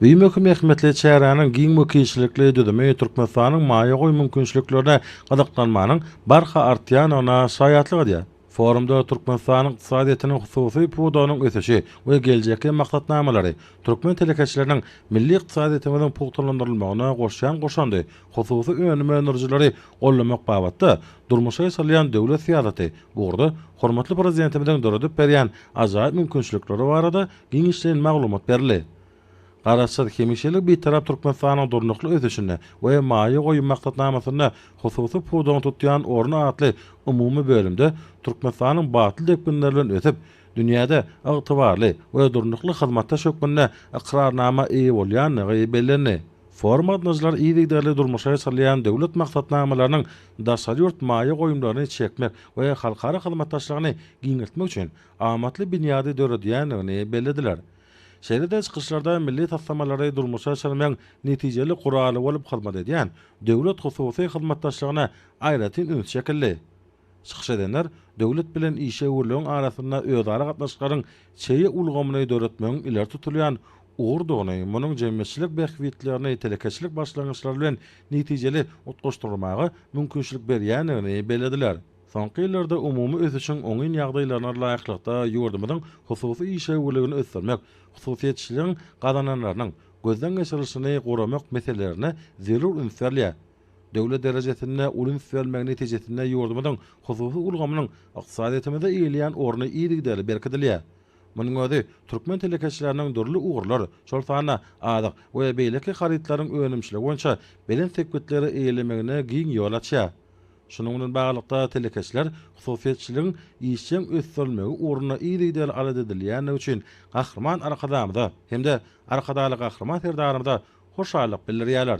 Bu möhüm ähmiýetli çäräniň giň wekilçilikli düzümi Türkmenistanyň maýa goýum mümkinçiliklerine gyzyklanmanyň barha artýandygyna şaýatlyk edýär. Forumda Türkmenistanyň ykdysadyýetiniň hususy pudagynyň ösüşi we geljekki maksatnamalary, türkmen telekeçileriniň milli ykdysadyýetimiziň pugtalandyrylmagyna goşýan goşandy, hususy önüm öndürijileri goldamak babatda durmuşa geçirilýän döwlet syýasaty ugurda hormatly Prezidentimiziň döredip berýän ajaýyp mümkinçilikleri barada giňişleýin maglumat berildi. Garaşsyz, hemişelik Bitarap Türkmenistanyň durnukly ösüşinde we maýa goýum maksatnamasynda hususy pudagyň tutýan orny atly umumy bölümde Türkmenistanyň batly depginler bilen ösüp, dünýäde ygtybarly we durnukly hyzmatdaş hökmünde ykrarnama eýe bolýandygy bellendi. Forum gatnaşyjylary yzygiderli durmuşa geçirilýän döwlet maksatnamalarynyň daşary ýurt maýa goýumlaryny çekmek we halkara hyzmatdaşlygyny giňeltmek üçin amatly binýady döredýändigini bellediler. Şeýle-de çykyşlarda milli taslamalary durmuşa geçirmegiň netijeli guraly bolup hyzmat edýän döwlet-hususy hyzmatdaşlygyna aýratyn üns çekildi. Çykyş edenler döwlet bilen işewürligiň arasynda özara gatnaşyklaryň çeýe ulgamyny döretmegiň ileri tutulýan ugurdygyny, munuň jemgyýetçilik bähbitlerini telekeçilik başlangyçlary bilen netijeli utgaşdyrmaga mümkinçilik berýändigini bellediler. Soňky ýyllarda umumy ösüşiň oňyn ýagdaýlaryna laýyklykda ýurdumyzyň hususy işewürligini ösdürmek, hususyýetçiligiň gazananlarynyň gözden geçirilişini guramak meselelerine zerur üns berilýär. Döwlet derejesinde uly üns berilmegi netijesinde ýurdumyzyň hususy ulgamynyň ykdysadyýetimizde eýeleýän orny yzygiderli berkidilýär. Munuň özi türkmen telekeçileriniň dürli ugurlar, şol sanda azyk we beýleki harytlaryň önümçiligi boýunça belent sepgitleri eýelemegine giň ýol açýar. Şunuň bilen baglylykda, telekeçiler hususyýetçiligiň işjeň ösdürilmegi ugrunda yzygiderli alat edilýändigi üçin Gahryman Arkadagymyza hem-de Arkadagly Gahryman Serdarymyza hoşallyk bildirýärler.